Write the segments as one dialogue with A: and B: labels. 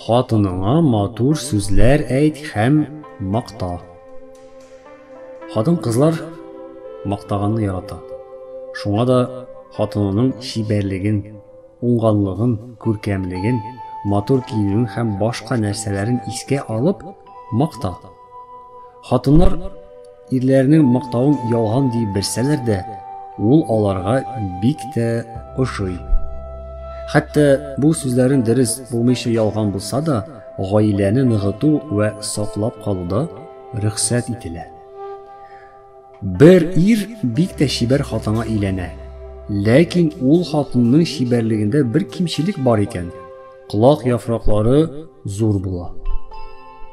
A: Хатыныңа матур сүзләр әйт һәм макта. Хатын кызлар мактаганны ярата. Шуңа да хатынының чибәрлеген, уңганлыгын, күркәмлеген, матур киенүен һәм башка нәрсәләрен искә алып макта. Хатыннар ирләренең мактавын ялган диеп белсәләр дә, ул аларга бик тә ошый. Хәтта бу сүзләрен дөрес булмыйча ялган булса да, гаиләне ныгыту вә саклап калуда рөхсәт ителә. Бер ир бик тә чибәр хатынга өйләнә. Ләкин ул хатынның чибәрлегендә бер кимчелек бар икән. Колак яфраклары зур була.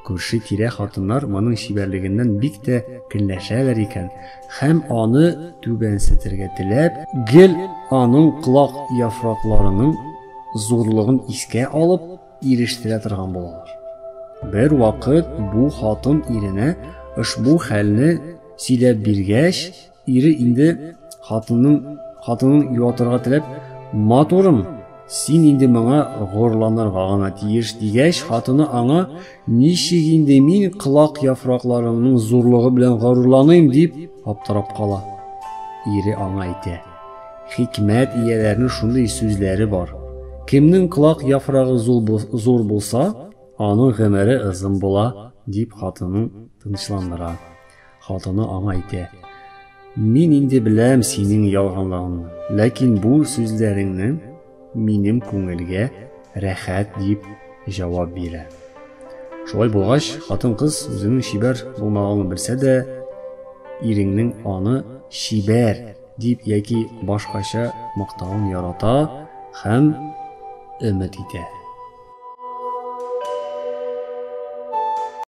A: Күрше-тирә хатыннар моның чибәрлегеннән бик тә көнләшәләр икән һәм аны түбәнсетергә теләп, гел аның колак яфракларының зурлыгын искә алып, ирештерә торган булалар. Бер вакыт бу хатын иренә ошбу хәлне сөйләп биргәч, Ире инде хатынның хатынын юатырга теләп, "Матурым, син инде моңа горланырга гына тиеш" дигәч, хатыны аңа, "Ничек инде мин кылак яфракларыңның зурлыгы белән горурланыйм" дип аптырап кала. Ире аңа әйтә, "Хикмәт ияләренең шундый сүзләре бар. Кемнең кылак яфрагы зур булса, аның гомере озын була", дип хатынын тынычландыра. Хатыны аңа әйтә. Мин инде беләм синең ялганлыгыңны, ләкин бу сүзләреңне минем күңелгә рәхәт дип җавап бирә. Шулай булгач, хатын-кыз үзенең чибәр булмаганын белсә дә, иреңнең аны чибәр дип яки башкача мактавын ярата һәм өмет итә.